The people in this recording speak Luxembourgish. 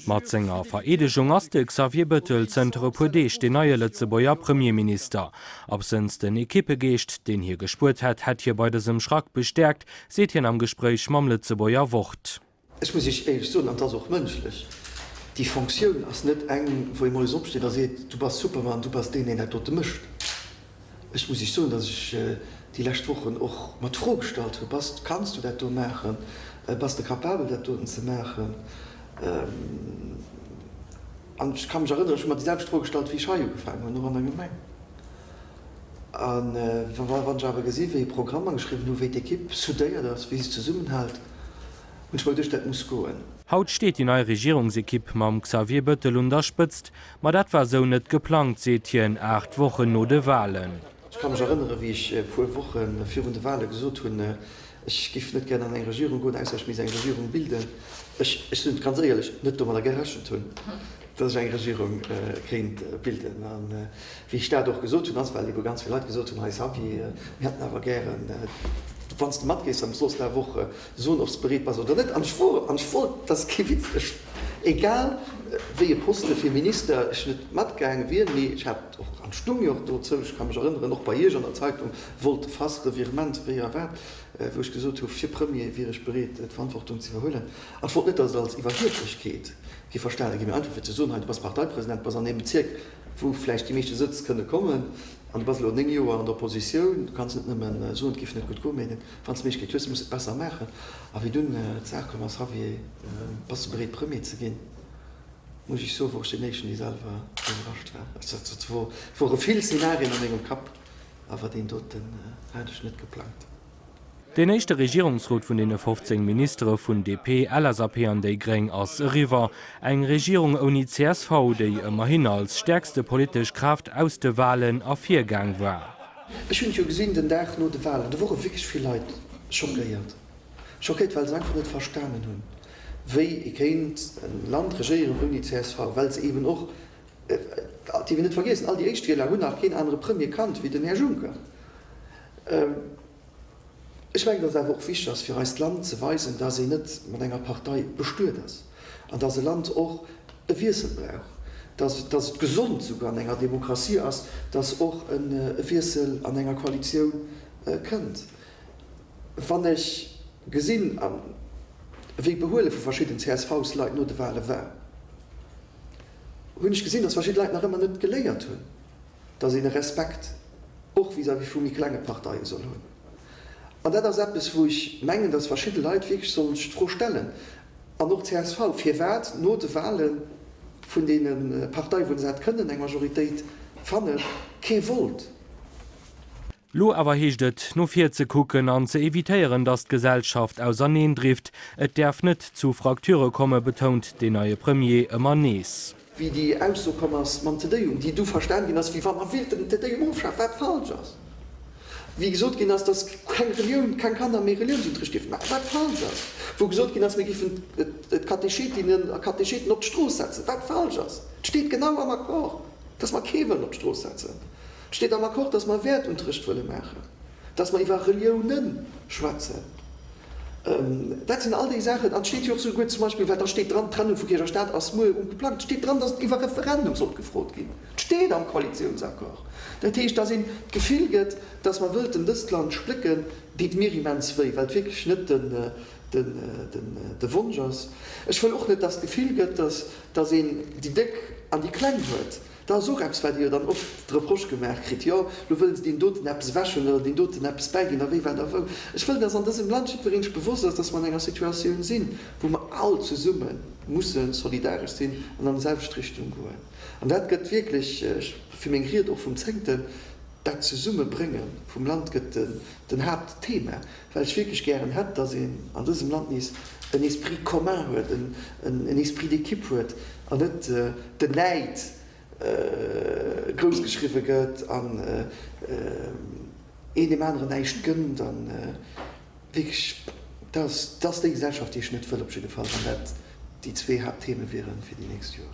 Mat senger Vereedegung ass de Xavier Bëttel zënter e puer Deeg deen neie Lëtzebuerger Premierminister. Absënns den Ekippegeescht, deen hie gespuert hätt, hätt hie bei dësem Schrack bestäerkt, seet hien am Gespréich mam Lëtzebuerger Wort. Ech muss Iech éierlech soen, an et ass och mënschlech, déi Fonctioun ass net eng, wou ee moies opsteet a seet, Du bass Superman, du bass deen, deen dat dote mécht. Ech muss Iech soen, datt ech déi lescht Wochen och mer d'Fro gestallt hu, Bass, kanns du dat do maachen? Bass de capabel, dat doten ze maachen? An ech ka mech erënneren, ech hu mer déi selwecht Fro gestallt, wéi ech hei ugefaangen hunn, och an der Gemeng. A wann ech awer gesinn, wéi Programmer geschriwwen hu, wéi d'Ekipp soudéiert ass, wéi se zesummenhält, hunn ech mol duecht, dat muss goen. Haut steet déi nei Regierungsekipp mam Xavier Bettel un der Spëtzt. Ma dat war esou net geplangt, seet hien, aacht Wochen no de Walen. Ech ka mech erënneren, wéi ech e puer Woche virun de Wale gesot hunn, Ech géif net gären an eng Regierung goen, ausser ech misst eng Regierung bilden. Ech sinn ganz éierlech net domadder gerechent hunn, datt ech eng Regierung kéint bilden. A wéi ech dat och gesot hunn, ass well ebe ganz vill Leit gesot hunn, Hei Xavier, mir hätten awer gären, wann s de matgees an soss d'A Woche soen, ob s de bereet bass oder net. An ech wor, an ech wor, dat ass kee Witz, ech, egal wéi e Poste fir Minister ech net matgaange wier, mee ech hat och, an et stoung jo och dozou, ech ka mech erënneren, och bei Iech an der Zeitung wollt de Fass Revirement, wéi erwaart, wou ech gesot hu fir Premier wier ech bereet d'Verantwortung ze iwwerhuelen, an ech wollt net, datt et als Iwwerhieflechkeet géif verstane ginn, mä einfach fir ze soen, hei du bass Parteipresident, du bass an deem Bezierk, wou vläicht déi meeschte Sëtz kënne kommen, an du bass elo néng Joer an der Oppositioun, du kanns net nëmme soen, et géif net gutt goen, mä wann s de d'Méiglechkeet hues, muss de et besser maachen. A wéi dunn d'Saach komm ass, Javier, bass de bereet Premier ze ginn? muss ech Iech soen, wor ech deen Éischten, dee selwer iwwerrascht war. Ech wor, et wor e vill Szenarien a mengem Kapp. Awer deen doten hat ech net geplangt. Deen éischte Regierungsrot vun deene 15 Ministere vun DP, LSAP an déi gréng ass eriwwer. Eng Regierung ouni csv, déi ëmmerhin als stäerkste politesch Kraaft aus de Walen ervirgaang war. Ech hunn et jo gesinn den Dag no de Walen, do wore wierklech vill Leit schockéiert. Schockéiert, well se einfach net verstanen hunn, wéi ee kéint e Land regéieren ouni csv, well se eeben och Dierf een net vergiessen, all déi Éischtwieler hunn nach keen anere Premier kannt wéi den Här Juncker. Ech mengen, datt et awer och wichteg ass fir eist Land ze weisen, datt een net mat enger Partei bestuet ass an datt e Land och e Wiessel brauch, datt et gesond souguer an enger Demokratie ass, datt och e Wiessel an enger Koalitioun kënnt. Wann ech gesinn, wéi d'Behuele vu verschidden CSV-Leit no de Wahle war, hunn ech gesinn, dass verschidde Leit nach ëmmer net geléiert hunn, dass een e Respekt och vis-à-vis vu méi klenge Parteie soll hunn. An dat ass eppes, wou ech mengen, dass verschidde Leit wierklech sollen sech d'Fro stellen, an och csv, firwat no de Wahle vun deene Parteien, wou se hätt kënnen eng Majoritéit fannen, kee wollt. Lo awer heescht et, no vir ze kucken an ze evitéieren, datt d'Gesellschaft auserneen drift. Et däerf net zu Frakture komme, betount deen neie Premier ëmmer nees. Wéi déi Ausso komm ass mam Te-Deum, déi du verstan ginn ass, wéi wann mer willten den Te-Deum ofschafen, wat falsch ass. Wéi gesot ginn ass, datt keng Relioun, keng Kanner méi Reliounsunterricht dierfen maachen, wat falsch ass. Wou gesot ginn ass, mir géifen d'Katechetinnen a Katecheten op d'Strooss setzen, wat falsch ass. Et steet genau am Accord, datt mer kee wëllen op d'Strooss setzen. Et steet am Accord, dass mer e Wäertunterrecht wëlle maachen, dass mer iwwer Reliounen schwätzen. Dat sinn all déi Saachen. An et steet jo och souguer zum Beispill, well da steet dran, d'Trennung vu Kierch a Staat ass muer um geplangt, et steet dran, dass et iwwer Referendum sollt gefrot ginn. Et steet am Koalitiounsaccord. Dat heescht, dass een d'Gefill gëtt, dass mer wëllten dëst Land splécken, deet mir immens wéi, well et wierklech net de Wonsch ass. Ech wëll och net, dass d'Gefill gëtt, dass een déi Déck an déi Kleng huet. Dat ass och eppes, wat Dir jo dann oft de Reproche gemaach kritt, Jo, lo wëlle se deem doten eppes ewechhuelen oder deem doten eppes bäiginn a wéi, wat a wou. Ech wëll, dass an dësem Land jiddweree sech bewosst ass, dass mer an enger Situatioun sinn, wou mer all zesumme musse solidaresch sinn an an déi selwecht Richtung goen. An dat gëtt wierklech, ech fir meng Ried och vum Zéngten, Dat Zesummebrénge vum Land gëtt den Haaptthema, well ech wierklech gären hätt, datt een an dësem Land nees en Esprit commun huet, en Esprit d'équipe huet an net den Näid groussgeschriwwe gëtt an een deem aneren näischt gënnt. A wierklech, dat ass déi Gesellschaft, déi ech net wëll op jidde Fall, wann dat déi zwee Haapttheme wiere fir déi nächst Joer.